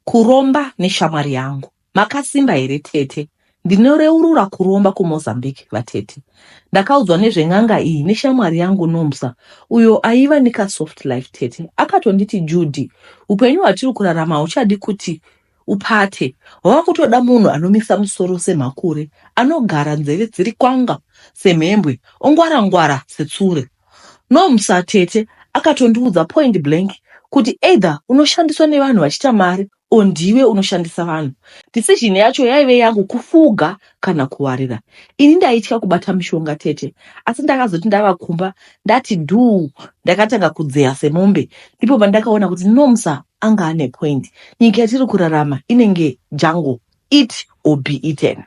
Kuromba neshamwari yangu. Makasimba here tete? Ndinoreurura kuromba kuMozambique vatete. Ndakaudzwa nezven'anga iyi neshamwari yangu Nomsa uyo aiva nekasoft life tete. Akatonditi Judy, upenyu hwatiri kurarama hauchadi kuti upate. Hwava kutoda munhu anomisa musoro semhakure, anogara nzeve dziri kwanga semhembwe, ongwara-ngwara setsure. No msa tete akatondiudza point blank kuti either unoshandiswa nevanhu vachiita mari or ndiwe unoshandisa vanhu. Decision yacho yaive yangu kufuga kana kuwarira. Ini ndaitya kubata mishonga tete asi ndakazoti ndava kumba ndati dhuu ndakatanga kudzeya semombe ndipo pandakaona kuti no msa anga ane point. Nyika yatiri kurarama inenge jungle eat or be eaten.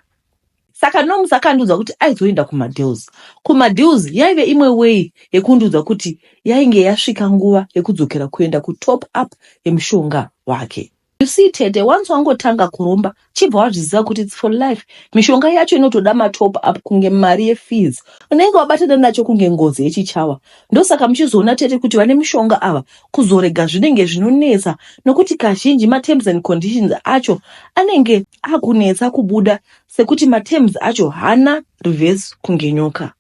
Saka Noms akandiudza kuti aizoenda kumadeals. Kumadeals yaive imwe way yekundiudza kuti yainge yasvika nguva yekudzokera kuenda kutop up yemushonga wake. You see tete, once wangotanga kuromba chibva wazviziva kuti it's for life. Mishonga yacho inotoda matop up kunge mari yefees. Unenge wabatana nacho kunge ngozi yechichawa. Ndosaka muchizoona tete kuti vane mushonga ava kuzorega zvinenge zvinonetsa nokuti kazhinji materms and conditions acho anenge akunetsa kubuda sekuti materms acho hana reverse kunge nyoka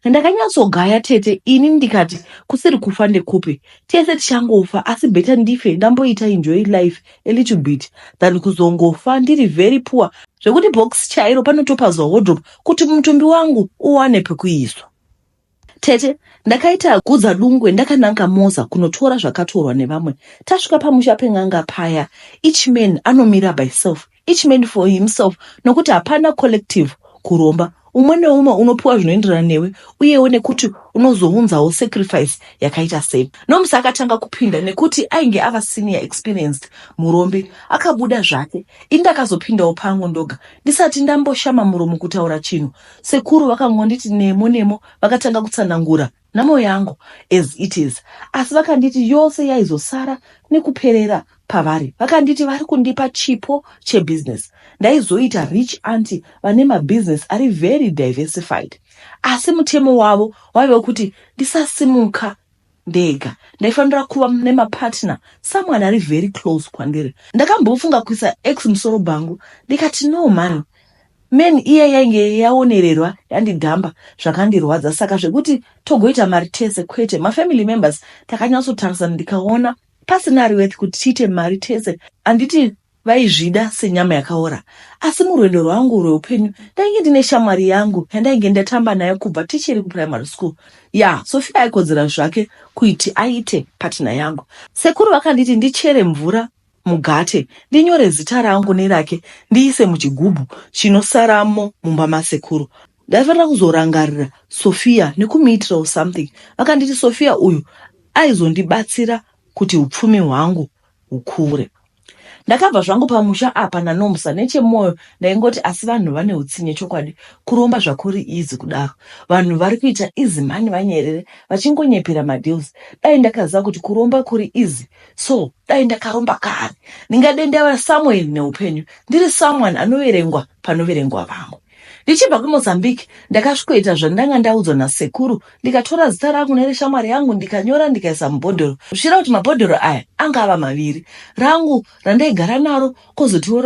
ndakanyatsogaya tete ini ndikati kusiri kufa ndekupi tese tichangofa asi better ndife ndamboita enjoy life a little bit than kuzongofa ndiri very poor zvekuti box chairo panotopazwa wardrobe kuti mutumbi wangu uwane pekuiswa Tete, ndakaita kudza dungwe ndakananga Moza kunotora zvakatorwa nevamwe. Tasvika pamusha pen'anga paya, each man anomira by self, each man for himself nokuti hapana collective kuromba. Umwe neumwe unopiwa zvinoenderana newe uyewo nekuti unozounzawo sacrifice yakaita sei. Nomusa akatanga kupinda nekuti ainge ava senior experienced murombi. Akabuda zvake ini ndakazopindawo pangu ndoga ndisati ndamboshama muromo kutaura chinhu. Sekuru vakangonditi nemo nemo vakatanga kutsanangura nhamo yangu as it is asi vakanditi yose yaizosara nekuperera pavari. Vakanditi vari kundipa chipo chebusiness ndaizoita rich aunty vane mabusiness ari very diversified asi mutemo wavo waive wekuti ndisasimuka ndega ndaifanira kuva nemapartner someone ari very close kwandiri ndakambofunga kuisa ex musoro bhangu ndikati no mani men iye yainge yaonererwa yandidhamba zvakandirwadza saka zvekuti togoita mari tese kwete mafamily members takanyatsotarisana ndikaona pasina riweth kuti tiite mari tese anditi vaizvida senyama yakaora asi murwendo rwangu rweupenyu ndainge ndine shamwari yangu yandainge ndatamba nayo kubva tichiri kuprimary school ya yeah, sofia aikodzera zvake kuiti aite patina yangu sekuru vakanditi ndichere mvura mugate ndinyore zita rangu nerake ndiise muchigubhu chinosaramo mumba masekuru ndaifanira kuzorangarira sofia nekumuitirawo something vakanditi sofia uyu aizondibatsira kuti upfumi hwangu hukure Ndakabva zvangu pamusha apa naNomsa nechemoyo ndaingoti asi vanhu vane utsinye chokwadi kuromba zvakuri easy kudaro vanhu vari kuita easy mhani vanyerere vachingonyepera madeals dai ndakaziva kuti kuromba kuri easy so dai ndakaromba kare ndingadendera Samuel neupenyu ndiri someone anoverengwa panoverengwa vamwe Ndichibva kuMozambique ndakasvikoita zvandanga ndaudzwa nasekuru ndikatora zita rangu nereshamwari yangu ndikanyora ndikaisa mubhodhoro zvichira kuti mabhodhoro aya anga ava maviri rangu randaigara naro kozotiwo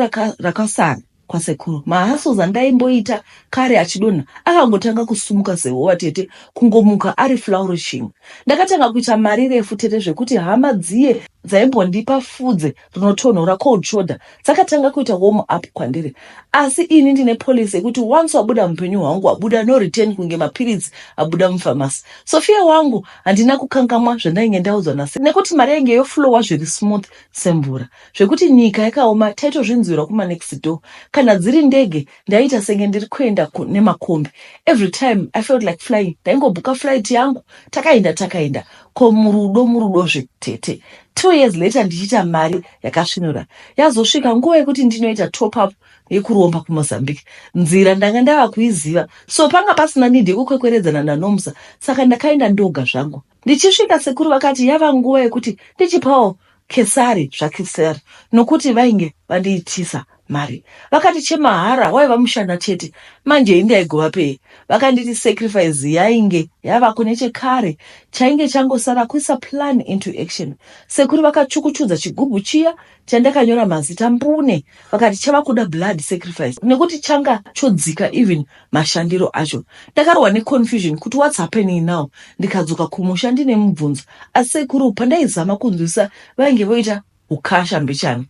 rakasara kwasekuru mahassos andaimboita kare achidonha akangotanga kusumuka sehova tete kungomuka ari flourishing ndakatanga kuita mari refu tete zvekuti hama dziye dzaimbondipa fudze rinotonhora cold shoulder dzakatanga kuita warm up kwandiri asi ini ndine policy yekuti once wabuda mupenyu hwangu wabuda no return kunge mapiritsi abuda mufamasi sofia wangu handina kukangamwa zvandainge ndaudzwa nase nekuti mari yainge yoflowa zviri smooth semvura zvekuti nyika yakaoma taitozvinzwirwa kumanext door kana dziri ndege ndaiita senge ndiri kuenda nemakombi every time i felt like flying ndaingobhuka flight yangu takaenda takaenda ko murudo murudozve tete Two years later ndichiita mari yakasvinura. Yazosvika nguva yekuti ndinoita top up yekuromba kuMozambique. Nzira ndanga ndava kuiziva so panga pasina need yekukwekweredzana naNomsa saka ndakaenda ndoga zvangu. Ndichisvika sekuru vakati yava nguva yekuti ndichipawo Kesari zvaKesari nokuti vainge vandiitisa. mari vakati chemahara waiva mushana chete manje iyi ndaigova pei vakanditi sacrifice yainge yavako nechekare chainge changosara kuisa plan into action sekuru vakachukuchudza chigubhu chiya chandakanyora mazita mbune vakati chava kuda blood sacrifice nekuti changa chodzika even mashandiro acho ndakarohwa neconfusion kuti whats happening now ndikadzoka kumusha ndine mubvunzo asi sekuru pandaizama kunzwisisa vainge voita ukasha mbichana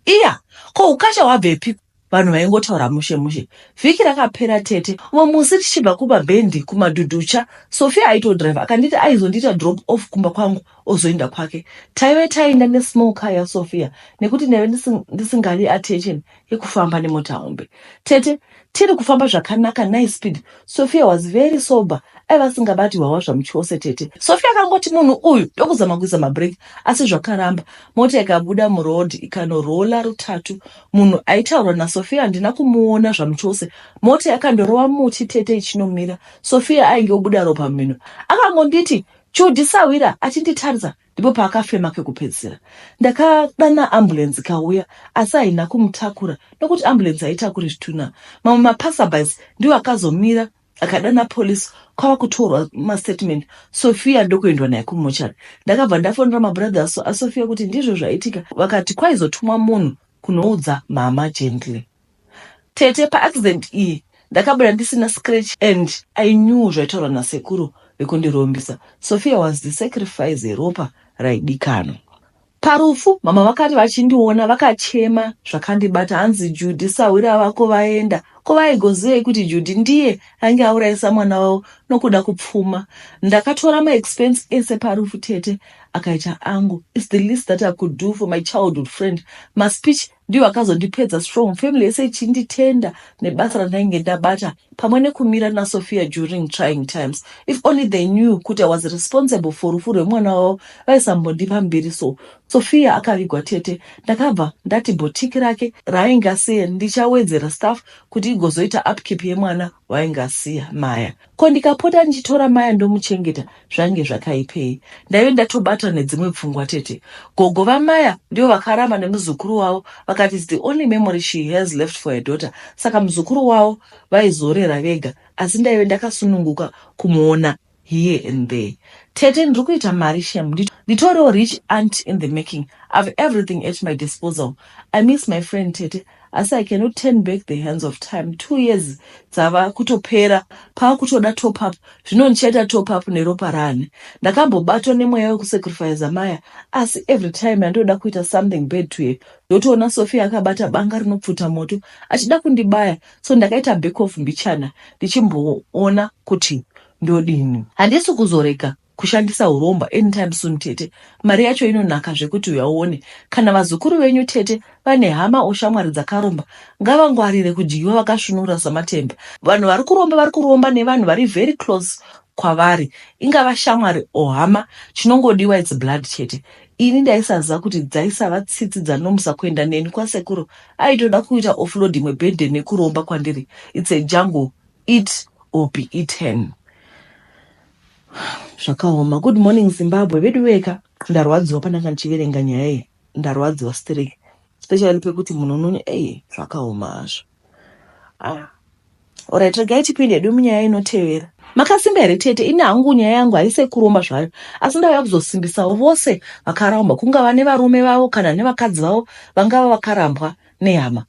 Iya, ko ukasha wabvepi? Vanhu vaingotaura mushe mushe. Vhiki rakapera tete, umwe musi tichibva kuBabendi kuMadhudhucha, Sophia aitodriver akanditi aizondiita drop off kumba kwangu ozoenda kwake. Taive taenda nesmall car yaSophia nekuti ndaive ndisingadi attention yekufamba nemota hombe. Tete, Tiri kufamba zvakanaka nice speed. Sophia was very sober aiva asingabati hwawa zvamuchose tete. Sophia akangoti munhu uyu ndokuzama kuisa mabreak asi zvakaramba. Mota ikabuda muroad ikanorola rutatu. Munhu aitaurwa naSophia handina kumuona zvamuchose. Mota yakandorova muti tete ichinomira. Sophia ainge obuda ropa mumhino. Akangonditi chudhi sahwira achinditarisa ndipo paakafema kekupedzisira. Ndakadana ambulenzi ikauya asi haina kumutakura nokuti ambulenzi haitakuri zvitunha. Mamwe mapasabys ndiwo akazomira akadana police kwava kutorwa mastatement sofia ndokuendwa naye kumochari ndakabva ndafonera mabrothers asofia kuti ndizvo zvaitika vakati kwaizotumwa munhu kunoudza mama gently Tete pa accident iyi ndakabuda ndisina scratch and I knew zvaitaurwa na sekuru vekundirombisa. Sophia was the sacrifice yeropa raidikanwa. Parufu mama vakati vachindiona vakachema zvakandibata hanzi Judy sahwira vako vaenda. Ko vaigozivei kuti Judy ndiye ange aurayisa mwana wavo nokuda kupfuma. Ndakatora ma expense ese parufu tete akaita angu. It's the least that I could do for my childhood friend. Ma speech ndiwo akazondipedza strong family yese ichinditenda nebasa randainge ndabata pamwe nekumira nasophia during trying times if only they knew kuti i was responsible for rufu rwemwana wavo vaisambondipa mbiri so sophia akavigwa tete ndakabva ndati botiki rake raainge asiya ndichawedzera staff kuti igozoita upkeep yemwana waainge asiya maya Ko ndikapota ndichitora maya ndomuchengeta zvange zvakaipei? Ndaive ndatobatwa nedzimwe pfungwa tete. Gogo vamaya ndivo vakaramba nemuzukuru wavo vakati it's the only memory she has left for her daughter saka muzukuru wavo vaizorera vega asi ndaive ndakasununguka kumuona here and there. Tete ndiri kuita mari shem nditoriwo rich aunt in the making. I've everything at my disposal. I miss my friend tete. Asi I cannot turn back the hands of time two years dzava kutopera pava kutoda top up zvino ndichaita top up neropa raani? Ndakambobatwa nemweya wekusacrifiza Maya asi every time yandinoda kuita something bad to her ndotoona Sophia akabata banga rinopfuta moto achida kundibaya so ndakaita back off mbichana ndichimboona kuti ndodini. Handisi kuzorega kushandisa huromba anytime soon tete mari yacho inonaka zvekuti uya uone kana vazukuru venyu tete vane hama or shamwari dzakaromba ngavangwarire kudyiwa vakasvunura samatemba vanhu vari kuromba vari kuromba nevanhu vari very close kwavari ingava shamwari or hama chinongodiwa its blood chete ini ndaisaziva kuti dzaisava tsitsi dzanomusa kuenda neni kwasekuru aitoda kuita offload imwe birthday nekuromba kwandiri its a jungle Eat or be eaten. Zvakaoma. Good morning Zimbabwe. Veduweka ndarwadziwa pandanga ndichiverenga nyaya iyi. Ndarwadziwa sterek. Especially pekuti munhu unoni ei zvakaoma hazvo. Ah. Alright, regai tipinde hedu munyaya inotevera. Makasimba here tete? Ini hangu nyaya yangu haise kuromba zvayo, asi ndauya kuzosimbisawo vose vakarambwa, kungava nevarume vavo kana nevakadzi vavo vangava vakarambwa nehama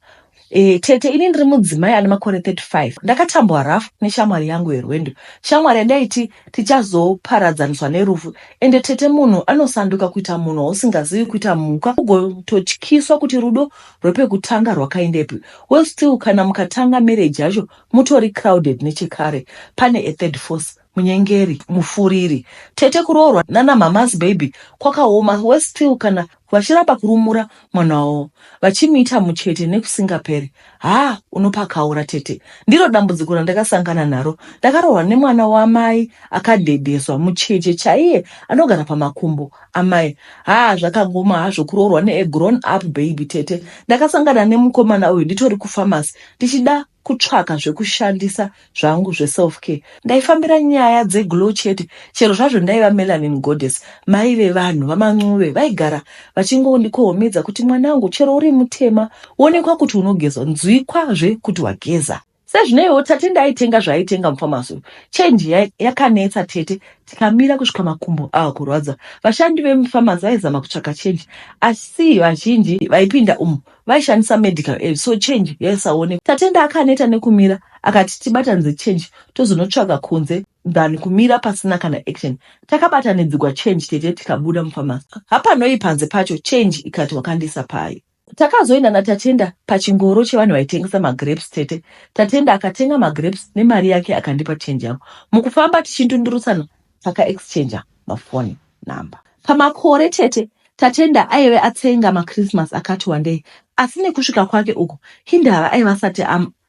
E, tete ini ndiri mudzimai ane makore 35 ndakatambwa rafu neshamwari yangu yerwendo shamwari yandaiti tichazoparadzaniswa nerufu ende tete munhu anosanduka kuita munhu wausingazivi kuita mhuka ugototyiswa kuti rudo rwepekutanga rwakaendepi well still kana mukatanga marriage yacho mutori crowded nechekare pane a third force Munyengeri, mufuriri. Tete kuroorwa nana mhamha's baby kwakaoma worse still kana vachiramba kurumura mwana wavo vachimuita muchete nekusingaperi haa unopakaura tete ndiro dambudziko randakasangana naro ndakaroorwa nemwana wamai akadhedheswa mucheche chaiye anogara pamakumbo amai haa zvakangoma hazvo kuroorwa neagrown up baby tete ndakasangana nemukomana uyu nditori kufamasi ndichida kutsvaka zvekushandisa zvangu zveself care ndaifambira nyaya dzeglow chete chero zvazvo ndaiva melanin goddess mai vevanhu vamancube vaigara vachingondikohomedza kuti mwana wangu chero uri mutema wonekwa kuti unogezwa nzwikwazve kuti wageza sezvineiwo tate ndaitenga zvaaitenga mufamasi uyu chenji ya- yakanetsa tete tikamira kusvika makumbo ava kurwadza vashandi vemufamasi vaizama kutsvaka chenji asi vazhinji vaipinda umu vaishandisa medical aid so change yaisaonekwa. Tatenda akaneta nekumira akati tibatanidze change tozonotsvaga kunze than kumira pasina kana action. Takabatanidzigwa change tete tikabuda mupharmacy hapanoi panze pacho change ikati wakandiisa payo. Takazoenda naTatenda pachingoro chevanhu vaitengesa magrapes tete Tatenda akatenga magrapes nemari yake akandipa change yangu. Mukufamba tichindundurutsana taka exchanger mafoni number. Pamakore tete Tatenda aive atsenga maChristmas akati wandei asi nekusvika kwake uku hindava aiva asati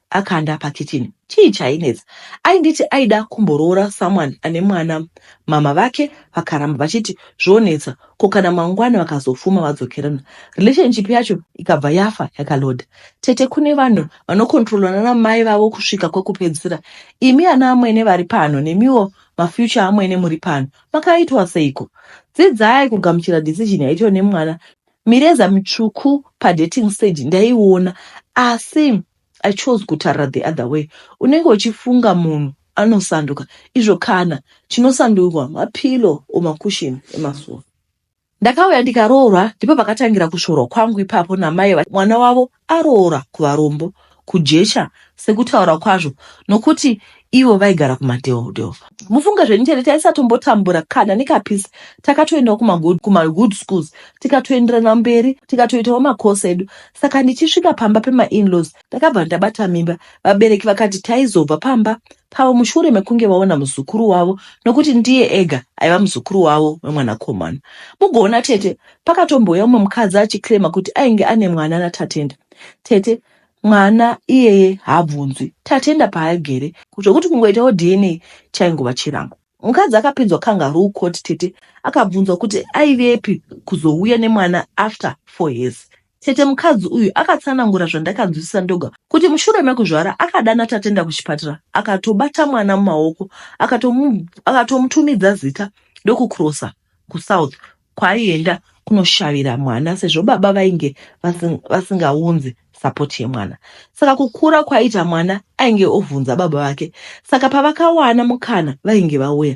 akanda pakicheni. Chii chainetsa? Ainditi aida kumboroora someone ane mwana mama vake vakaramba vachiti zvonetsa ko kana mangwana vakazofuma vadzokerana relationship yacho ikabva yafa yakaloda. Tete kune vanhu vanokontrolwa nana mai vavo kusvika kwekupedzisira. Imi ana amwene vari pano nemiwo mafuture amwene muri pano makaitwa seiko dzidzai kugamuchira decision yaitwa nemwana mireza mitsvuku padating stage ndaiona asi i chose kutarira the other way unenge uchifunga munhu anosanduka izvo kana chinosandurwa mapilo or makushini emasuwa Ndakauya ndikaroorwa ndipo pakatangira kusvorwa kwangu ipapo namai mwana wavo aroora kuvarombo kujecha sekutaura kwazvo nokuti ivo vaigara kumadheodheo mufunge zvenyu chete taisatombotambura kana nekapisi takatoendawo kumagood schools tikatoenderana mberi tikatoitawo makosi edu saka ndichisvika pamba pemainlaws ndakabva ndabata mimba vabereki vakati taizobva pamba pavo mushure mekunge vaona muzukuru wavo nokuti ndiye ega aiva muzukuru wavo wemwanakomana. Mugoona tete pakatombouya umwe mukadzi achiclaima kuti ainge ane mwana naTatenda. Tete mwana iyeye haabvunzwi, Tatenda paaigere, zvokuti kungoitawo dna chaingova chirango. Mukadzi akapinzwa kangaroo court tete akabvunzwa kuti aivepi kuzouya nemwana after four years. Tete mukadzi uyu akatsanangura zvandakanzwisisa ndoga kuti mushure mekuzvara akadana Tatenda kuchipatara akatobata mwana mumaoko akatomu, akatomutumidza zita ndokucrossa kusouth kwaaienda kunoshavira mwana sezvo baba vainge vasingaunzi sapoti yemwana saka kukura kwaiita mwana ainge ovhunza baba vake saka pavakawana mukana vainge vauya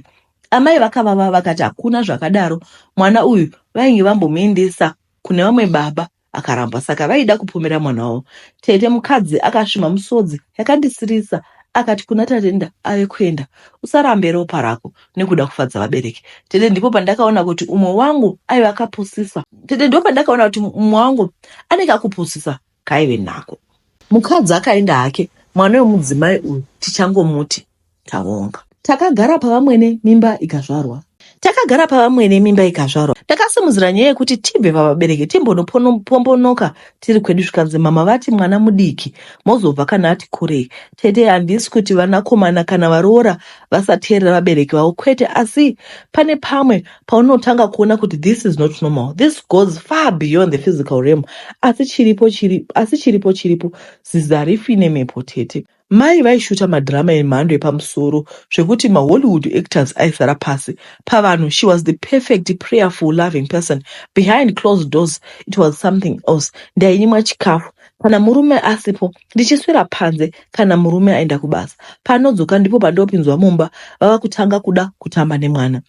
amai vakavava vakati hakuna zvakadaro mwana uyu vainge vambomuendesa kune vamwe baba akaramba saka vaida kupomera mwana wavo tete mukadzi akasvima musodzi yakandisirisa akati kuna tatenda ave kuenda usarambe ropa rako nekuda kufadza vabereki tete ndipo pandakaona kuti umwe wangu aive akapusisa tete ndipo pandakaona kuti umwe wangu anenge akupusisa kaive nako mukadzi akaenda hake mwana wemudzimai uyu tichangomuti Tavonga. Takagara pavamwene mimba ikazvarwa. Takagara pavamwene mimba ikazvarwa. Ndakasimudzira nyaya yekuti tibve pavabereki timbonopombonoka tiri kwedu zvikanzi mama vati mwana mudiki mozobva kana ati kurei. Tete handisi kuti vanakomana kana varoora vasateerera vabereki vavo kwete asi pane pamwe paunotanga kuona kuti this is not normal. This goes far beyond the physical realm. Asi chiripo chiripo asi chiripo chiripo zizi harifi nemhepo tete. Mai vaishuta madrama emhando yepamusoro zvekuti maHollywood actors aizara pasi pavanhu. She was the perfect prayerful loving person. Behind closed doors it was something else. Ndainyimwa chikafu kana murume asipo, ndichiswera panze kana murume aenda kubasa. Paanodzoka ndipo pandopinzwa mumba vava kutanga kuda kutamba nemwana.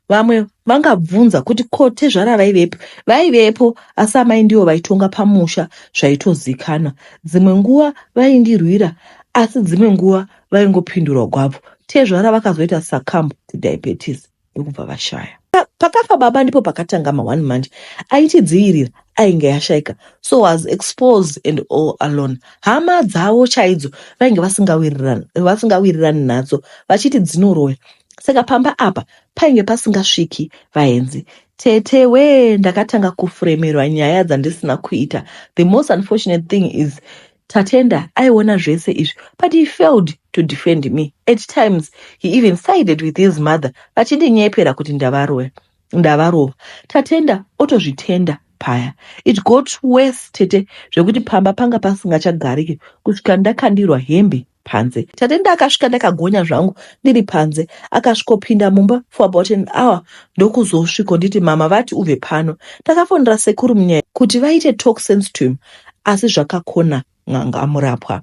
vamwe vangabvunza kuti ko tezvara vaivepo vaivepo asi amai ndivo vaitonga pamusha zvaitozikanwa dzimwe nguva vaindirwira asi dzimwe nguva vaingopindurwa gwavo tezvara vakazoita sacamb to diabetes ndokubva vashaya pakafa baba ndipo pakatanga ma one month aitidzivirira ainge yashaika so was exposed and all alone hama dzavo chaidzo vainge vasingawirirani vasingawirirani nadzo vachiti dzinoroya saka pamba apa painge pasingasviki vaenzi tete wee ndakatanga kufremerwa nyaya dzandisina kuita the most unfortunate thing is tatenda aiona zvese izvi but he failed to defend me at times he even sided with his mother vachindinyepera kuti ndavaroya ndavarova tatenda otozvitenda paya it got worse tete zvekuti pamba panga pasingachagariki kusvika ndakandirwa hembe panze tatenda akasvika ndakagonya zvangu ndiri panze akasvikopinda mumba for about an hour ndokuzosviko nditi mama vati ubve pano takafonera sekuru munyaya kuti vaite talk sense to him asi zvakakona n'anga amurapwa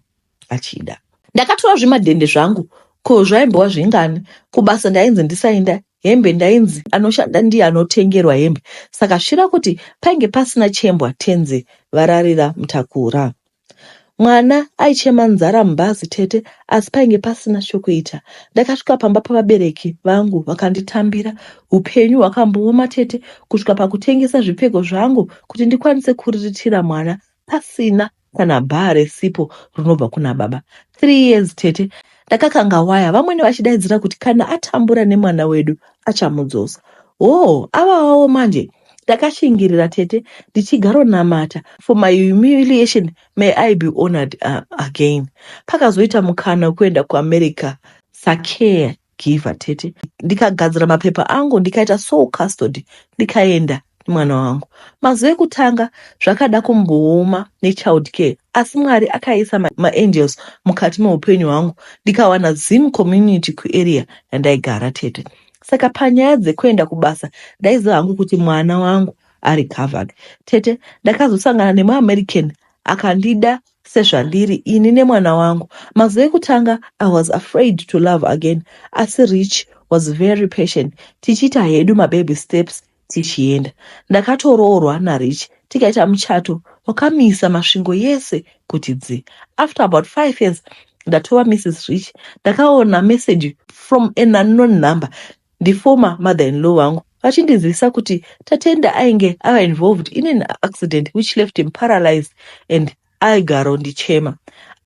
achida. Ndakatora zvimadhende zvangu ko zvaimbowa zvingani kubasa ndainzi ndisaenda hembe ndainzi anoshanda ndiye anotengerwa hembe saka svira kuti painge pasina chembwa tenzi vararira mtakura mwana aichema nzara mubhazi tete asi painge pasina chokuita ndakasvika pamba pavabereki vangu vakanditambira upenyu hwakambooma tete kusvika pakutengesa zvipfeko zvangu kuti ndikwanise kuriritira mwana pasina kana bhaa resipo rinobva kuna baba three years tete ndakakanga waya vamwene vachidaidzira kuti kana atambura nemwana wedu achamudzosa hoo avawawo manje ndakashingirira tete ndichigaronamata for my humiliation may i be honored uh, again pakazoita mukana wekuenda kuamerica sakea Giver tete ndikagadzira mapepa angu ndikaita sole custody ndikaenda mwana wangu mazuva ekutanga zvakada kumbooma nechild care asi mwari akaisa maangels ma mukati meupenyu hwangu ndikawana zim community kuarea yandaigara tete saka panyaya dzekuenda kubasa ndaiziva hangu kuti mwana wangu ari covered tete ndakazosangana nemuamerican akandida Sezvandiri ini nemwana wangu. Mazuva ekutanga I was afraid to love again asi Rich was very patient tichiita hedu mababy steps tichienda. Ndakatoroorwa naRich tikaita muchato wakamisa masvingo yese kuti dzi. After about five years ndatova Mrs Rich ndakaona message from an unknown number ndiformer mother in law vangu vachindizivisa kuti Tatenda ainge ava involved in an accident which left him paralyzed and aigaro ndichema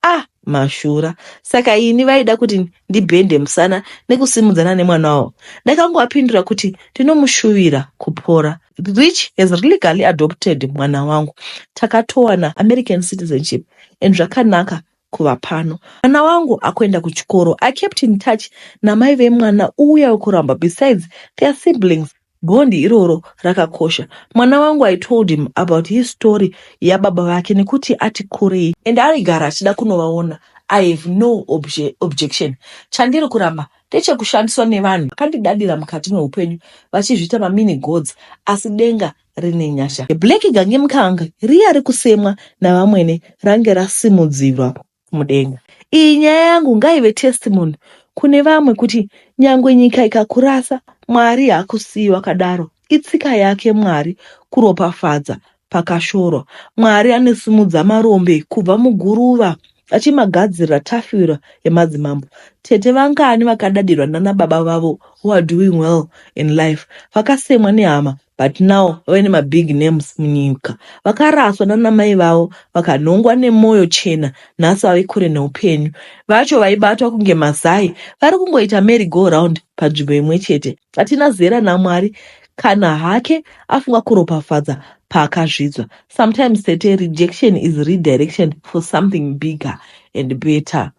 ah mashura saka ini vaida kuti ndibhende musana nekusimudzana nemwana wavo ndakangowapindura kuti ndinomushuvira kupora rich has legally adopted mwana wangu takatowana american citizenship and zvakanaka kuva pano mwana wangu akuenda kuchikoro i kept in touch namai vemwana uye wekuramba besides their siblings bond iroro rakakosha mwana wangu i told him about his story yababa vake nekuti ati kurei and aigara achida kunovaona i have no obje, objection chandiri kuramba ndechekushandiswa nevanhu vakandidadira mukati meupenyu vachizviita mamini gods asi denga rine nyasha. Black gange mukanga riya rekusemwa navamwene range rasimudzirwa mudenga. Iyi nyaya yangu ngaive testimony kune vamwe kuti nyangwe nyika ikakurasa Mwari hakusiyi wakadaro. Itsika yake Mwari kuropafadza pakashorwa. Mwari anosumudza marombe kubva muguruva Vachimagadzirira tafura yemadzimambo, tete vangani vakadadirwa nana baba vavo who are doing well in life, vakasemwa nehama but now vave nemabig names munyika. Vakaraswa nana mai vavo vakanhongwa nemoyo chena nhasi vave kure neupenyu. Vacho vaibatwa kunge mazai vari kungoita merry go round panzvimbo imwe chete. Hatina zera naMwari Kana hake afunga kuropafadza paakazvidzwa. Sometimes tete rejection is redirection for something bigger and better.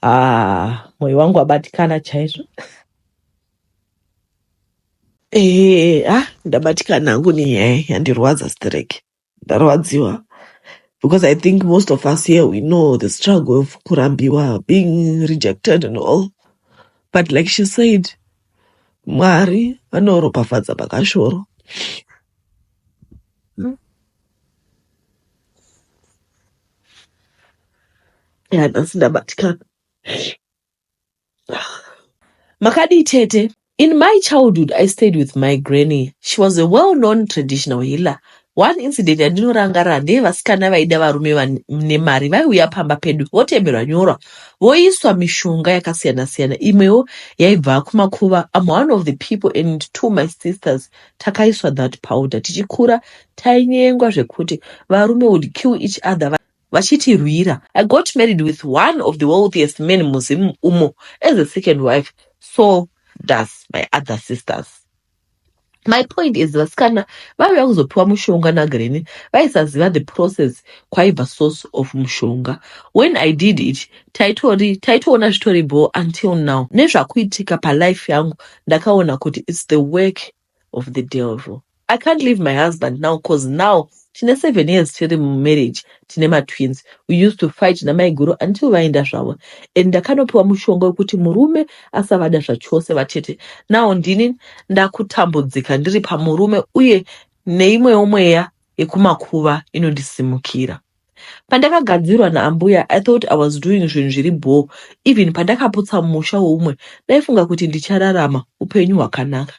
Ah, moyo wangu wabatikana chaizvo. Eh, ah, ndabatikana hangu nenyaya yandirwadza stereki. ndarwadziwa because i think most of us here we know the struggle of kurambiwa being rejected and all but like she said mwari vanoropafadza pakashoro ya nhasi ndabatikana makadii tete in my childhood i stayed with my granny she was a well known traditional healer one incident yandinorangarira ndeye vasikana vaida varume vane mari vaiuya pamba pedu votemerwa nyorwa voiswa mishonga yakasiyana siyana imwewo yaibva kumakuva am one of the people and two my sisters takaiswa that powder tichikura tainyengwa zvekuti varume would kill each other vachitirwira. I got married with one of the wealthiest men muZim umo as a second wife so does my other sisters. My point is vasikana vaiuya kuzopiwa mushonga naGreni vaisaziva the process kwaibva source of mushonga. When I did it taitori taitoona zvitori bho until now nezvakuitika palife yangu ndakaona kuti it's the work of the devil i can't leave my husband now cause now tine seven years tiri mumarriage tine matwins we used to fight namaiguru until vaenda zvavo and ndakanopiwa mushonga wekuti murume asavada zvachose vatete now ndini ndakutambudzika ndiri pamurume uye neimwewo mweya yekumakuva inondisimukira Pandakagadzirwa naambuya I thought I was doing zvinhu zviri bhoo even pandakaputsa musha weumwe ndaifunga kuti ndichararama upenyu hwakanaka.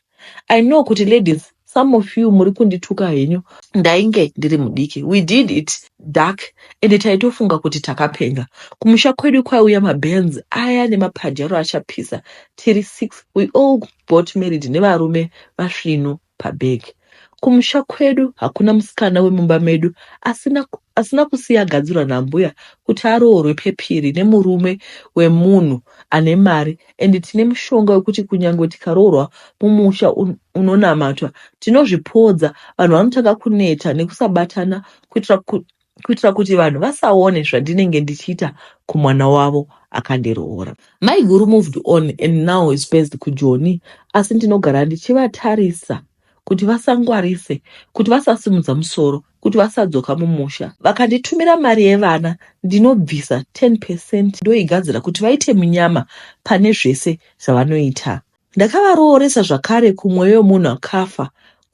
I know kuti ladies some of you muri kundituka henyu ndainge ndiri mudiki we did it dark ende taitofunga kuti takapenga. Kumusha kwedu kwaiuya mabenz aya nemapadyaro achapisa tiri six we all got married nevarume vasvinu. pabhegi. Kumusha kwedu hakuna musikana wemumba medu asina, asina kusiya agadzirwa nambuya kuti aroorwe pepiri nemurume wemunhu ane mari and tine mushonga wekuti kunyange tikaroorwa mumusha un, unonamatwa tinozvipodza. Vanhu vanotanga kuneta nekusabatana kuitira ku, kuitira kuti vanhu vasaone zvandinenge ndichiita kumwana wavo akandiroora. Maiguru moved on and now is based kuJoni asi ndinogara ndichivatarisa kuti vasangwarise, kuti vasasimudza musoro, kuti vasadzoka mumusha. Vakanditumira mari yevana ndinobvisa 10 percent ndoigadzira kuti vaite munyama pane zvese zvavanoita. Ndakavarooresa zvakare kumweya wemunhu akafa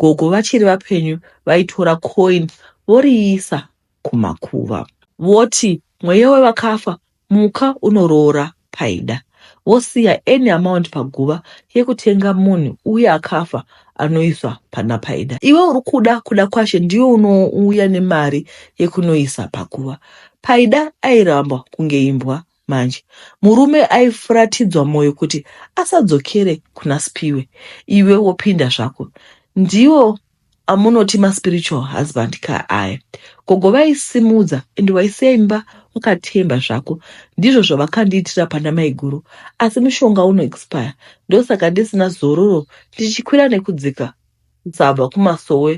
gogo vachiri vapenyu vaitora coin voriisa kumakuva voti mweya wevakafa muka unoroora paida vosiya any amount paguva yekutenga munhu uye akafa anoiswa pana paida iwe uri kuda kuda kwashe ndiyo unouya nemari yekunoisa paguva paida airamba kunge imbwa Manje murume aifuratidzwa moyo kuti asadzokere kuna Spiwe iwe wopinda zvako ndiwo amunoti maspiritual husband ka aya gogo vaisimudza and waisiya imba wakatemba zvako ndizvo zvavakandiitira pana maiguru asi mushonga uno expire ndosaka ndisina zororo ndichikwira nekudzika kusabva kumasowe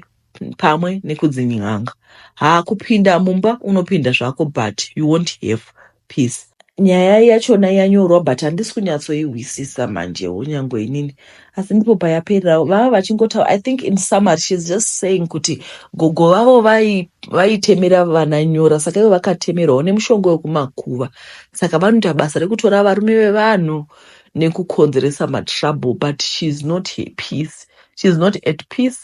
pamwe nekudzin'anga haa kupinda mumba unopinda zvako but you won't have peace nyaya yachona yanyorwa but handisi kunyatsoihwisisa manjewo nyangwe inini asi ndipo payaperera vava vachingotaura i think in summary shes just saying kuti gogo vavo vai- vaitemera vana nyora saka ivo vakatemerwawo nemushonga wekumakuva saka vanoita basa rekutora varume vevanhu nekukonzeresa matrouble but she is not at peace she is not at peace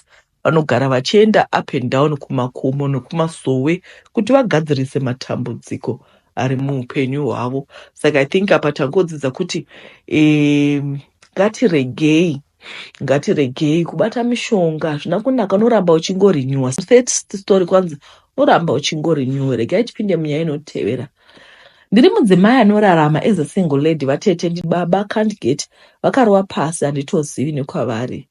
Vanogara vachienda up and down kumakomo nokumasowe kuti vagadzirise matambudziko ari muupenyu hwavo. Saka I think apa tangodzidza kuti um, ngatiregei ngatiregei kubata mishonga hazvina kunaka unoramba uchingorenewa set story kwanzi unoramba uchingorenewa regai tipinde munyaya inotevera ndiri mudzimai anorarama as a single lady vatete ndibaba can't get vakarova pasi handitozivi nekwavari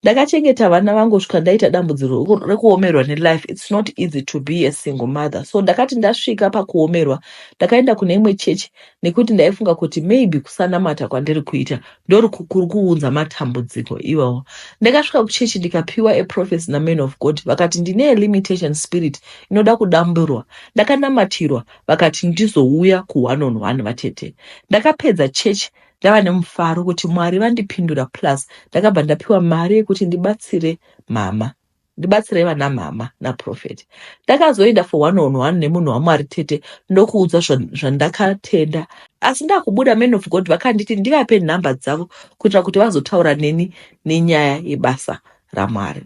ndakachengeta vana vangu kusvika ndaita dambudziro reku- rekuomerwa nelife its not easy to be a single mother so ndakati ndasvika pakuomerwa ndakaenda kune imwe chechi nekuti ndaifunga kuti maybe kusanamata kwandiri kuita ndori ku- kuri kuunza matambudziko iwawa ndakasvika kuchechi ndikapiwa a prophecy naman of god vakati ndine a limitation spirit inoda kudamburwa ndakanamatirwa vakati ndizouya ku one on one vatete ndakapedza chechi ndava nemufaro kuti mwari vandipindura plus ndakabva ndapiwa mari yekuti ndibatsire mama ndibatsirei vana mama naprofet ndakazoenda for one on one nemunhu wamwari tete ndokuudza zvandakatenda asi ndakubuda man of god vakanditi ndivape nhamba dzavo kuitira kuti vazotaura neni nenyaya yebasa ramwari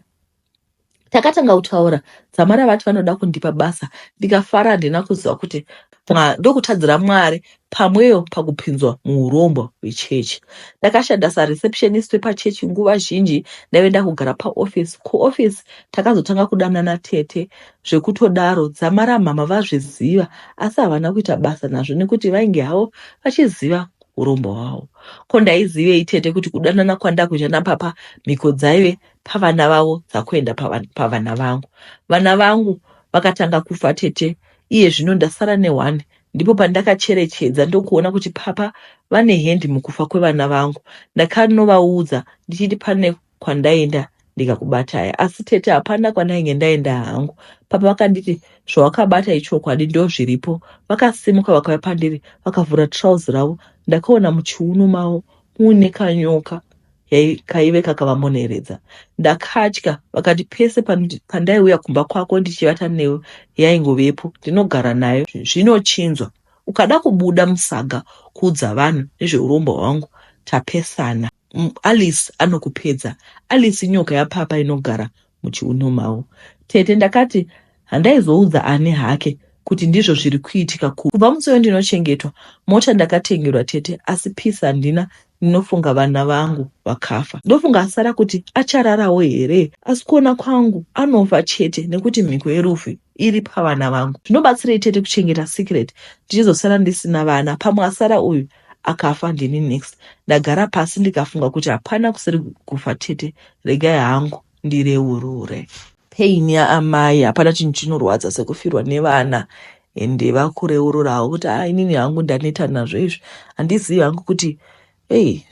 takatanga kutaura dzamara vati vanoda kundipa basa ndikafara handina kuziva kuti Mwa- ndokutadzira mwari pamweyo pakupinzwa muurombwa hwechechi ndakashanda sareceptionist wepachechi nguva zhinji ndaive ndakugara paoffice kuoffice takazotanga kudanana tete zvekutodaro dzamara mhama vazviziva asi havana kuita basa nazvo nekuti vainge havo vachiziva urombwa hwavo ko ndaizivei tete kuti kudanana kwandakuita napapa mhiko dzaive pavana vavo dzakuenda pavana vangu vana vangu vakatanga kufa tete iye zvino ndasara nehwani ndipo pandakacherechedza ndokuona kuti papa vane hendi mukufa kwevana vangu ndakanovaudza ndichiti pane kwandaenda ndikakubatai asi tete hapana kwandainge ndaenda hangu papa vakanditi zvawakabata ichokwadi ndo zviripo vakasimuka vakauya pandiri vakavhura trouse ravo ndakaona muchiuno mavo muine kanyoka yai kaive kakavamoneredza ndakatya vakati pese pandaiuya kumba kwako ndichivata newe yaingovepo ndinogara nayo zvinochinzwa ukada kubuda musaga kuudza vanhu nezveurombo hwangu tapesana alice anokupedza alice inyoka yapapa inogara muchiuno mavo. Tete ndakati handaizoudza ani hake kuti ndizvo zviri kuitika ku kubva musi uyo ndinochengetwa mota ndakatengerwa tete asi peace handina ndinofunga vana vangu vakafa ndofunga asara kuti achararawo here asi kuona kwangu anofa chete nekuti mhiko yerufu iri pavana vangu zvinobatsirei tete kuchengeta secret ndichizosara ndisina vana pamwe asara uyu akafa ndini next ndagara pasi ndikafunga kuti hapana kusiri kufa tete regai hangu ndireurure pain yaamai hapana chinhu chinorwadza sekufirwa nevana ende vakureururawo kuti a inini hangu ndaneta nazvo izvi handizivi hangu kuti ei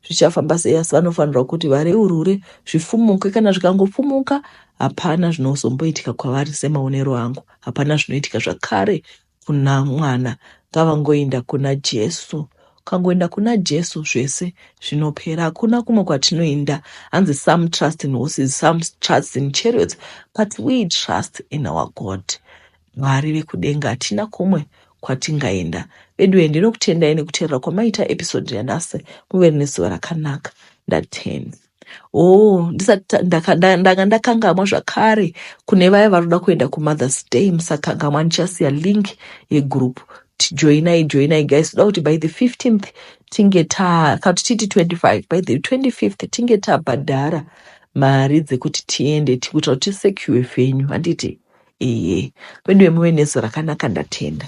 zvichafamba sei asi vanofanirwa kuti vareurure zvifumuke kana zvikangofumuka hapana zvinozomboitika kwavari semaonero angu hapana zvinoitika zvakare Kuna mwana ngavangoinda kuna Jesu ukangoenda kuna jesu zvese zvinopera hakuna kumwe kwatinoinda hanzi some trust in horses some trust in chariots but we trust in our god mwari vekudenga hatina kumwe kwatingaenda veduwe ndinokutendai nekuteerera kwamaita episode yanhasi muve nezuva rakanaka ndatenda Oh, ndisati ta- ndaka- nda- ndanga ndakangamwa zvakare kune vaya vanoda kuenda kumothers day musakangamwa ndichasiya link yegroup Ti- joinai joinai guys toda kuti by the 15th tinge ta kana kuti titi 25 by the 25th tinge tabhadhara mari dzekuti tiende ti- kuitira kuti tisecure venyu handiti eye veduwe muve nesu rakanaka ndatenda